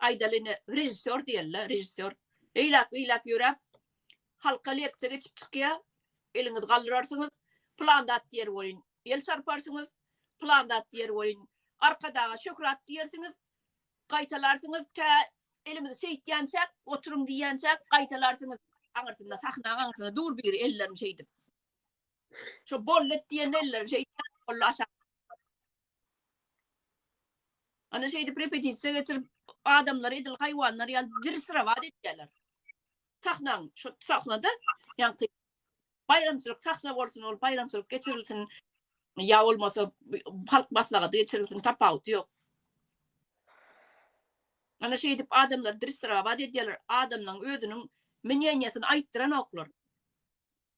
Aýdaly ine, režissýor diýeli-le, režissýor. Eýläk-beýläk ýöräp, halka leksiýa geçip çykýar. Eliňizi galdyrarsyňyz, pylan zat diýer welin, el çarparsyňyz, pylan zat diýer welin, Arkadaga şöhrat diýersiňiz, gaýtalarsyňyz, tä elimizi şeýtýänçäk, oturyň diýýänçäk, gaýtalarsyňyz. Aňyrsynda, sahnaň aňyrsynda dur biri ellerini şeýdip. Şo bollet diýende ellerini şeýdýär, bolly aşak. Ana şeýdip repetisiýa geçirip adamlar edil haýwanlar ýaly dirsirabat etýärler. Sahnaň şu sahnada ýaňky baýramçylyk sahna bolsun, ol baýramçylyk geçirilsin ýa bolmasa halk maslahaty geçirilsin tapawuty ýok. Ana şeýdip adamlar dirsirabat edýärler, adamlaryň özüniň mnýeniýasyny aýtdyranoklar.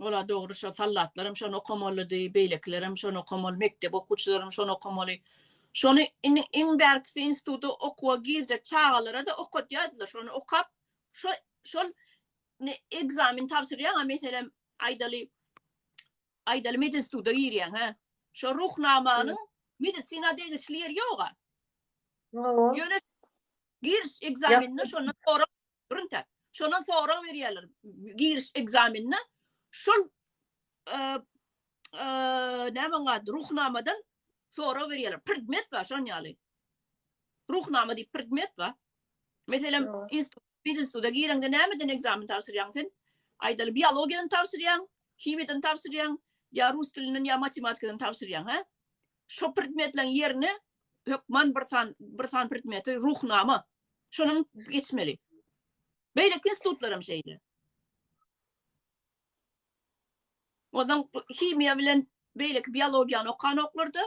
Ola dogry şo sallatlaram şony okamalydy, beýlekilerem şony okamaly, mekdep okuwçylaram şony okamaly. Şony indi iň bärkisi instituta okuwa girjek çagalara-da okadýardylar. Şony okap, şo şol ne ekzamen tabşyrýaň-a meselem, aýdaly, aýdaly medinstituta girýäň, hä? Şo ruhnamanyň medisina degişli ýeri ýog-a. Ýöne giriş ekzameninde şondan sorap Brunta. Şondan sorag berýärler giriş ekzamenine. Şol näme gad ruhnamadan sorag berýärler. Predmet bar şon ýaly. Ruhnama diýip predmet bar. Meselem, institut instituta gireňde nämeden ekzamen tabşyrýaň sen? Aýdaly biologiýadan tabşyrýaň, himiýadan tabşyrýaň, ýa rus dilinden ýa matematikadan tabşyrýaň, hä? Şo predmetleriň ýerine hökman bir san bir san predmeti ruhnama şonuň geçmeli. Beýleki institutlar hem şeýle. Ondan himiýa bilen beýleki biologiýany okanoklarda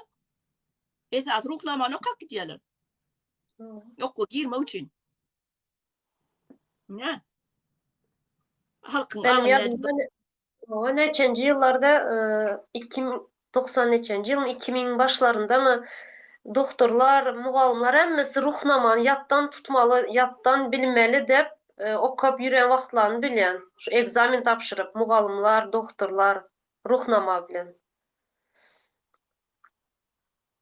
esas ruhnamany okap gidýärler. Okuwa girmek üçin. Ne? Halkyň Benim ýadymda o neçenji ýyllarda 2090 e, neçenji ýylyň 2000 başlaryndamy doktorlar, mugallymlar hemmesi ruhnamany ýatdan tutmaly, ýatdan bilmeli dep e, okap ýüren wagtlaryny bilýän. Şu ekzamen tabşyryp mugallymlar, doktorlar ruhnama bilen.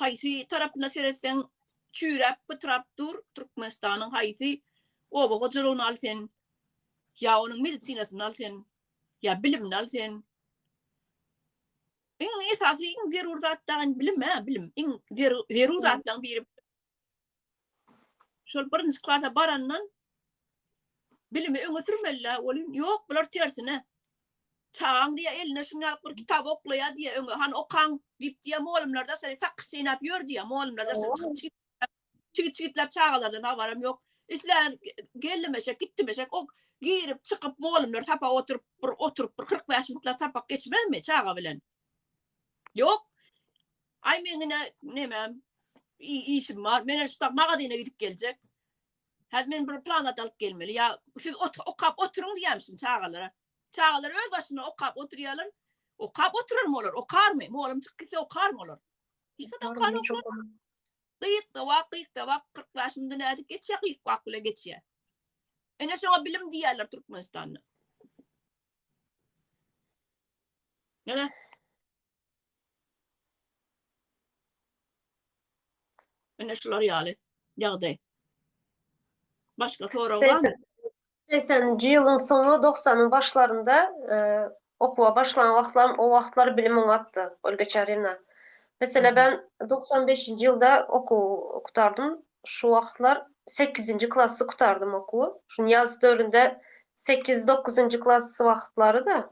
Haýsy tarapyna seretseň çüýräp pytrap dur Türkmenistanyň haýsy oba hojalygyny al sen ýa onuň medisinasyny al sen ýa bilimini al sen iň esasy iň zerur zat dagy bilimä bilim iň zerur zatlaryň biri Şol birinji klasa barandan bilimi öňe sürmeli ol yok bular tersine çagan diye eline şunu alıp bir kitap oklaya diye öňe han okan dip diye muallimler de seni fakir seynap yör diye muallimler de seni çigit çigitlap çagalardan haberim yok islen gelmeşek gitmeşek o girip çıkıp muallimler sapa oturup bir oturup bir 45 minutlar sapak geçmez mi çaga bilen Ýok. Aý meň ine nemem işim bar. Men şu tak magazyna gidip geljek. Häzir men bir plan alyp gelmeli. Ýa siz okap oturyň diýämişin çagalara. Çagalar öz başyna okap oturýarlar. Okap oturarmy olar? Okarmy? Mugallym çykyp gitse okarmy olar? Hiç adam okarmy? Gyýyk da wak, gyýyk da wak 45 munda nädip geçýär? Gyýyk wak bilen geçýär. Ene şoňa bilim diýýärler Türkmenistanda. Gel. Ene şular ýaly ýagdaý. Başga sorag barmy? 80-nji ýylyň soňy 90-yň başlarynda e, okuwa başlan wagtlarym o wagtlar bilim oňatdy Olga Çarina. Mesela ben 95-nji ýylda okuw gutardym. Şu wagtlar sekizinji klasy gutardym okuwy. Şuny ýaz döründe sekiz, dokuzynjy klas wagtlary-da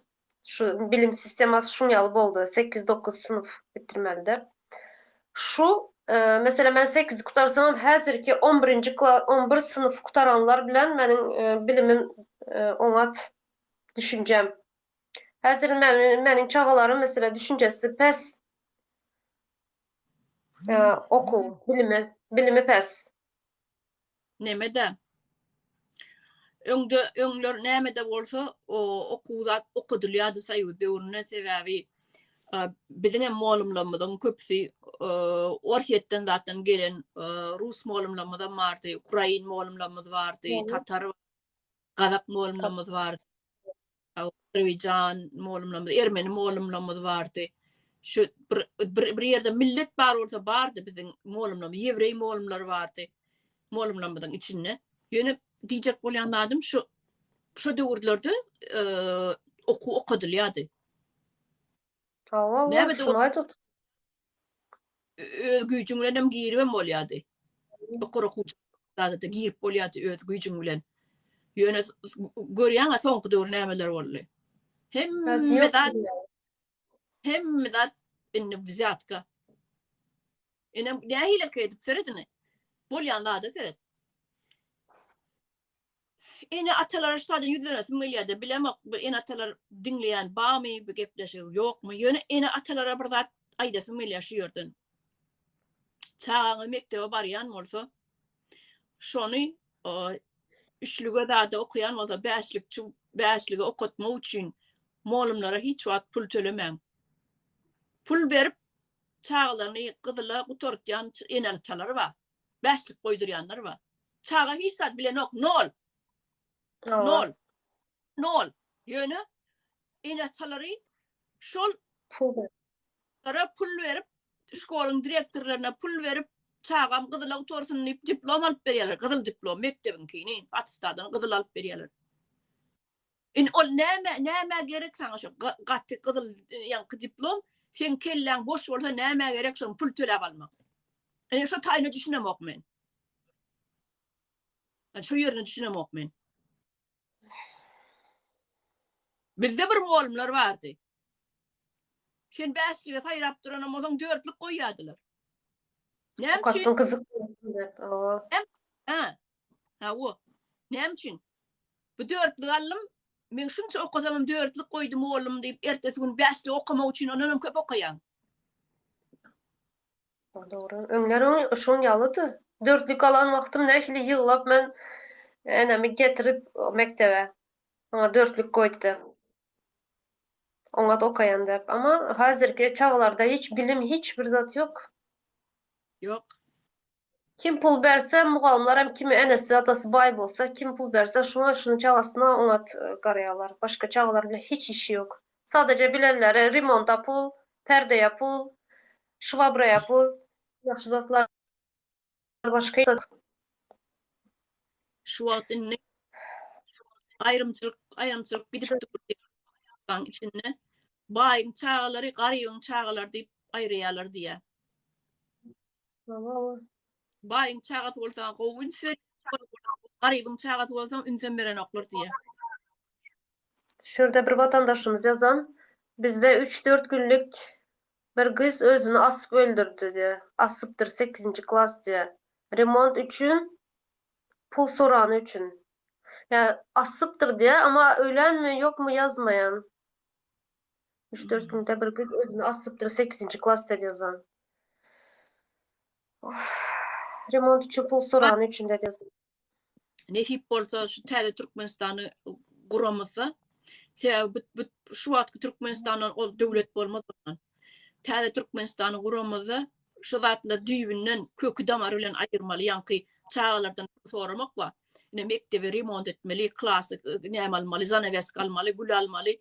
şu bilim sistemasy şuň ýaly boldy, sekiz, dokuz synp bitirmelide. Şu, meselem, men sekizi gutarsamam, häzirki on birinji kla, on bir synp gutaranlar bilen meniň bilimim oňat, düşünjem. Häzir meniň çagalarym, meselem, düşünjesi pes. Okuw, bilimi, bilimi pes. Nämede? Öňde, öňler nämede bolsa, o, okuw zat okadylýardy Soýuz döwründe, sebäbi biziň hem molumlarymyzyň köpüsi Orsýetden zatdan gelen, rus molumlarymyzam bardy, ukrain molumlarymyz bardy, tatar, gazak molumlarymyz bardy. Azerbaýjan molumlamyz, ermeni molumlamyz bardy. Şu bir bir bir ýerde millet bar bolsa bardy biziň molumlamyz, ýewreý molumlar bardy. Molumlamyzyň içinde. Ýöne diýjek bolýan zadym şu şu döwürlerde e, okuw okadylýardy. Hawa, Näme de- şuny aýdyp öz güýjüň bilen hem giribem bolýardy. Ýokary okuw jaýlarynda girip bolýardy öz güýjüň bilen. Ýöne görýäňä soňky döwür nämeler boldy. Hemme zat hemme zat indi wzýatka. Ene nähili edip seredini. Bolýan zada seret. Ene atalara şutadan ýüzlenesim gelýärdi. Bilemok, bir ene atalar diňleýän barmy bu gepleşigi, ýokmy? Ýöne ene atalara bir zat aýdasym gelýär şu ýerden. Çagaňyz mekdebe barýan bolsa, şony üçlüge zada okaýan bolsa, bäşlikçi, bäşligi okatmak üçin molumlara hiç wagt pul tölemäň. Pul berip, çagalaryny gyzyla gutartýan ene atalar bar. Bäşlik goýdurýanlar bar. Çaga hiç zat bilenok, nol. Nol. Nol. Ýöne ene-atalary şol Lara pul berip, şkoluň direktorlaryna pul berip, çagam gyzyla otursun diýip diplom alyp berýärler, gyzyl diplom mekdebiňkini, attestadyn gyzyl alyp berýärler. Indi ol näme, nämä gerek saňa şo gaty gyzyl ýaňky diplom? Seň kelläň boş bolsa nämä gerek şony pul töläp almak? Indi şo taýyna düşünemok men. Yani şu yerine düşünemok men. Bizde bir muallymlar vardı. Sen beşlige saýrap duran bolsaň dörtlük goýýardylar. Näme üçin? Kaşyň gyzyk. Ha. Hawa. Näme üçin? Bu dörtlük aldym. Men şunça okasamam dörtlük goýdum oglum diýip, ertesi gün bäşlik okamak üçin ondan hem köp okaýan. Dogry. Öňlerem şoň ýalydy. Dörtlük alan wagtym nähili ýyglap men enemi getirip mekdebe. Maňa dörtlük goýdy diýip. Oňat okaýan diýip. Ama häzirki çaglarda hiç bilim hiç bir zat ýok. Ýok. Kim pul berse, mugallymlar hem kimi enesi, atasy baý bolsa, kim pul berse, şoňa şunuň çagasyna oňat garaýarlar. Başga çagalar bilen hiç işi ýok. Sadaje bilenleri remonta pul, perdeýe pul, şwabraýa pul, ýagşy zatlar başga ýok. Şu wagt indi aýrymçylyk, aýrymçylyk gidip dur diýýär içinde. Baýyň çagalary, garybyň çagalary diýip aýyrýarlar diýýär. Baýyň çagasy bolsa gowy üns ber. Garybyň çagasy bolsa ünsem berenoklar diýýär. Şurada bir vatandaşymyz yazan, bizde 3-4 günlük bir gyz özüni asyp öldürdi diye. Asypdyr 8-nji klas diye. Remont üçin pul sorany üçin. Ya asypdyr diye ama ölenmi yokmu yazmayan. Üç dört günde bir güz özüni asypdyr sekizinji klasda bezan. Remont üçin pul sorany üçin de bezan. Nesip bolsa şu täze Türkmenistany guramyzda. Sebäbi bu şu wagtky Türkmenistandan ol döwlet bolmaz ondan. Täze Türkmenistany guramyzda Şu zatlar düýbünden, köki-damary bilen aýyrmaly, ýaňky çagalardan pul soramak bar. Ine, mekdebi remont etmeli, klasy näme almaly, zanaweska almaly, gül almaly,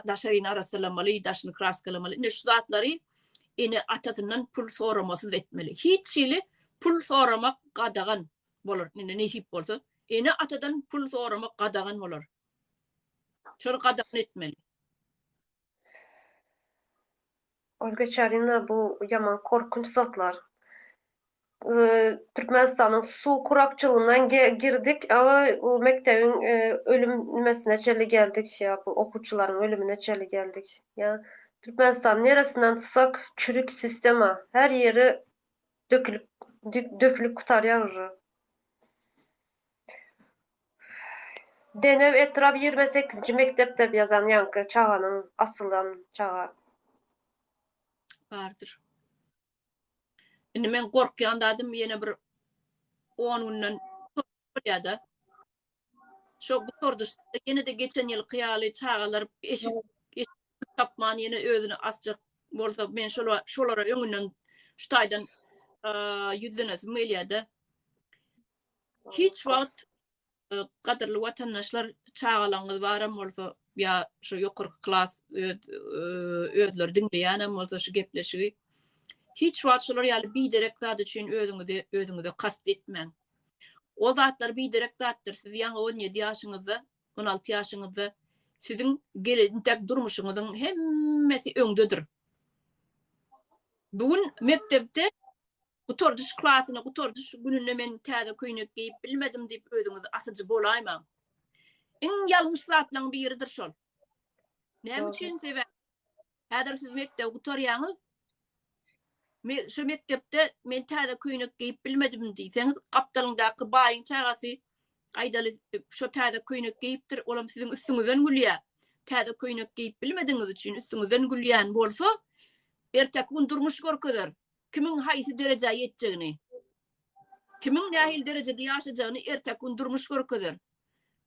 daşaryny arassalamaly, daşyny kraskalamaly. Ine, şu zatlary ene-atasyndan pul soramasyz etmeli. Hiç hili pul soramak gadagan bolar. Ine, nesip bolsa, ene-atadan pul soramak gadagan bolar. Şol gadagan etmeli. Ol geçerine bu ýaman korkunç zatlar. Türkmenistanyň suw kurakçylygyndan girdik awa o mekdebiň ölüm nimesine çenli geldik şeýa bu okuwçylaryň ölümine çenli geldik. Ýa Türkmenistany neresinden tutsak çürik sistema her ýeri dökülip dökülip gutarýar uje. Denew etrap ýigrimi sekizinji mekdep dep ýazan ýaňky çaganyň asylan çaga. Bardyr. Indi men gorkýan zadym ýene bir 10 günden bolýada. Şo gutardyşda ýene-de geçen ýylky ýaly çagalar eşik eşik tapman ýene özüni asjak bolsa men şola- şolara öňünden şu taýdan eee ýüzlenesim gelýä-de. Hiç wagt e, gadyrly watandaşlar çagalaryňyz baram bolsa ýa şu ýokarky klas e, özleri diňleýänem bolsa şu gepleşigi hiç wagt şolar ýaly biderek zat üçin özüňizi özüňize kast etmäň. O zatlar biderek zatdyr. Siz ýaňy 17 ýaşyňyzda, 16 ýaşyňyzda siziň geljek durmuşyňyzyň hemmesi öňdedir. Bugün mekdepde Gutardyş klasyna gutardyş gününde men täze köýnek geýip bilmedim diýip özüňizi asyjy bolaýmaň. Iň ýalňyş zatlaryň biridir şol. Näme üçin sebäp? Häzir siz mekdep gutarýaňyz. Me şu mekdepde men täze köýnek geýip bilmedim diýseňiz, gapdalyňdaky baýyň çagasy gaýdaly şu täze köýnek geýipdir, olam siziň üstüňizden gülýär. Täze köýnek geýip bilmediňiz üçin üstüňizden gülýän bolsa, erteki gün durmuş görkezer. Kimiň haýsy derejä ýetjegini, kimiň nähili derejede ýaşajagyny erteki gün durmuş görkezer.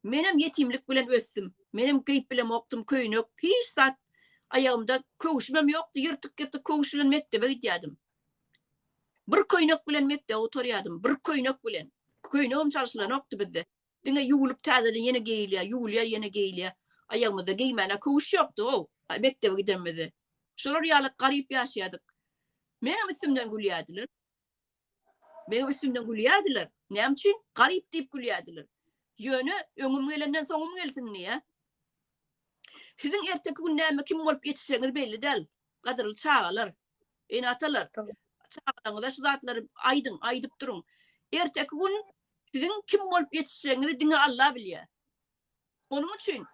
Menem ýetimlik bilen ösdüm. Menem geýip bilemokdym köýnek, hiç zat. Aýagymda köwşümem ýokdy, ýyrtyk-ýyrtyk köwüş bilen mekdebe gidýärdim. Bir köýnek bilen mekdebe oturýardym, bir köýnek bilen. Köýnegem çalşylanokdy bizde. Diňe ýuwlup täzeden ýene geýilýär, ýuwulýar ýene geýilýär. Aýagymyzda geýmäne köwüş ýokdy-ow, mekdebe gidenimizde. Şolar ýaly garyp ýaşaýardyk. Meňem üstümden gülýärdiler. Meňem üstümden gülýärdiler. Näme üçin? Garyp diýip gülýärdiler. Ýöne öňüm gelenden soňum gelsin diýä. Siziň erteki gün näme kim bolup ýetişegiňiz belli däl, gadyrly çagalar. Ene-atalar, çagalaryňyza şu zatlary aýdyň, aýdyp duruň. Erteki gün siziň kim bolup ýetişjegiňizi diňe Alla bilýär. Onuň üçin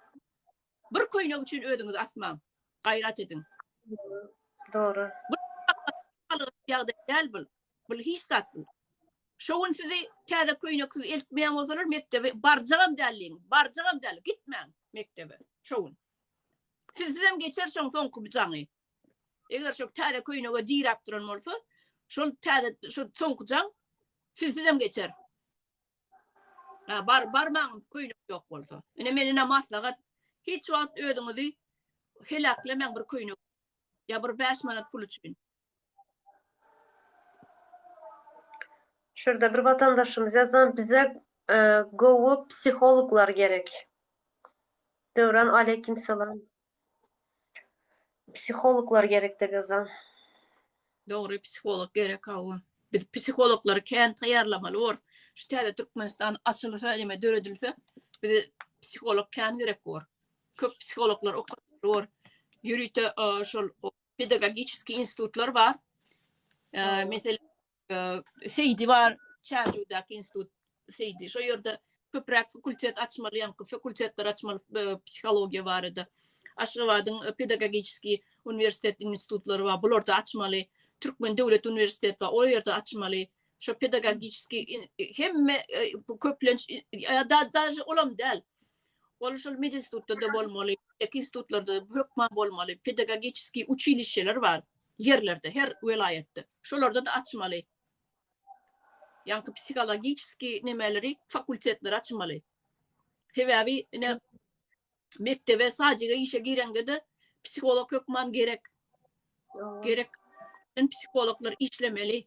bir köýnek üçin özüňizi asmaň. Gaýrat ediň. Dogry. Bu ýagdaý däl bu. Bu hiç zat bu. Şu gün sizi täze köýneksiz eltmeýän bolsalar, mekdebe barjagam däl diýiň. Barjagam däl, gitmäň mekdebe şu gün. Sizsiz hem geçer şoň soňky bu jaňy. Eger şo täze köýnege diräp duran bolsa, şol täze şu soňky jaň sizsizem geçer. Ha, bar barmaň köýnek ýok bolsa. Ine men ine maslahat hiç wagt özüňizi heläklemäň bir köýnek. Ya bir 5 manat pul üçin. Şurada bir vatandaşymyz yazan bize e, gowy psihologlar gerek. Döwran aleyküm salam. Psihologlar gerekde gyzym. Dogry psiholog gerek hawa. Biz psihologlary kän taýýarlamaly borus. Şu täze Türkmenistan açylsa ýa-da döredilse, bize psiholog kän gerek bor. Köp psihologlar okatmaly bor. Ýörite şol pedagogiçeskiý institutlar bar. Meselem, Seýdi bar, Çärjewdäki institut Seýdi. Şo ýerde köpräk fakultet açmaly, ýaňky fakultetler açmaly psihologiýa barada. Aşgabadyň pedagogiki uniwersitet institutlary bar, bularda açmaly. Türkmen döwlet uniwersiteti bar, ol ýerde açmaly. Şo pedagogiki hemme köplenç ýa-da daşy olam däl. Ol şol medinstitutda-da bolmaly, institutlarda hökman bolmaly, pedagogiki uçilişeler bar. Ýerlerde, her welaýatda. Şolarda-da açmaly. Ýaňky psihologiçeski nemeleri, fakultetleri açmaly. Sebäbi ine mekdebe, sadjyga işe gireňde-de psiholog hökman gerek. Gerek. Psihologlar işlemeli.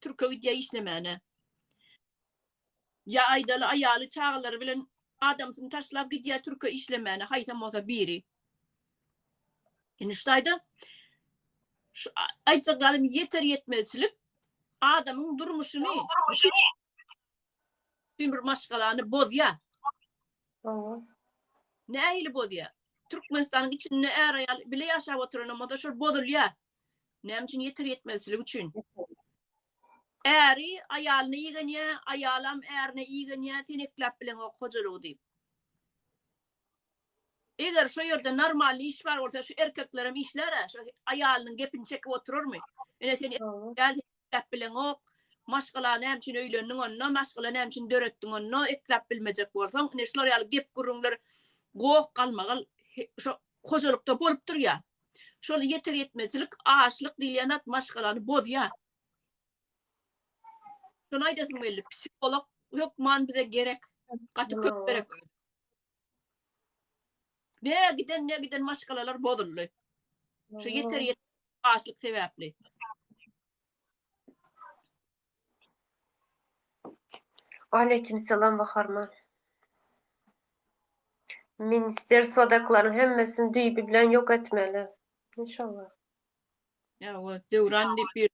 Türke gidýär işlemäne. Ýa aýdaly aýaly çagalary bilen adamsyny taşlap gidýär türke işlemäne haýsam bolsa biri. Indi şu taýda şu aýtjak zadym ýeter ýetmezçilik adamyň durmuşyny bir maşgalany bozýar. Nähili bozýar? Türkmenistanyň içinde är aýal bile ýaşap oturan bolsa şol bozulýar. Näme üçin ýeter-ýetmezçilik üçin? Äri aýalyny igenýä, aýalam ärine igenýä, sen ekläp bileňok hojalygy diýip. Eger şo ýerde normalny iş bar bolsa, şu erkeklerem işlär-ä, şo aýalynyň gepini çekip oturarmy? Ine sen ekläp bileňok, maşgala näme üçin öýlendiň onda, maşgala näme üçin döretdiň onda, ekläp bilmejek bolsaň, ine şular ýaly gep-gürrüňler goh galmagal şo hojalykda bolup durýar. Şol ýeter-ýetmezçilik, açlyk diýilýän zat maşgalany bozýar. Şuny aýdasym geldi, psiholog hökman bize gerek, gaty köp gerek. Ne giden, ne giden maşgalalar bozuldy. Şu ýeter ýet açlyk sebäpli. Waleýkim salam Baharman. Minister sodaklaryň hemmesini düýbi bilen ýok etmeli. İnşallah. Ýa, o Döwran diýip bir.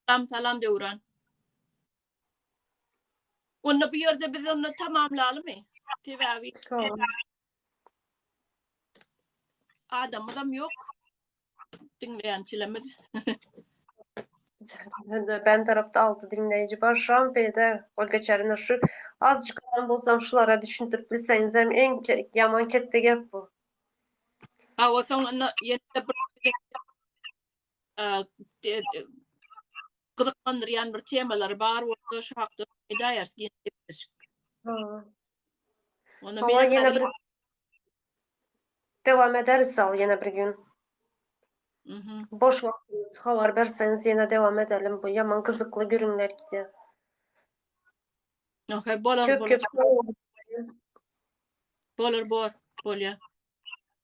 Salam, salam Döwran. Onda bu ýerde biz onda tamamlalymy? Sebäbi adamymyzam ýok. Diňleýänçilerimiz. Ben tarafda altı dinleyici var. Şu an beyde ol geçerine şu azıcık adam bolsam şulara düşündürüp bilseniz hem en ke, yaman kette gep bu. Awa soň onda ýene bir gyzyklandyrýan bir temalary bar bolsa şu hakda edäýeris giň gepleşik. Onda men ýene bir dowam ederis ol ýene bir gün. Mhm. Boş wagtyňyz habar berseňiz ýene dowam edelim bu ýaman gyzykly gürüňler gidýär. Okey bolar bolar. Bolar bor bolýar.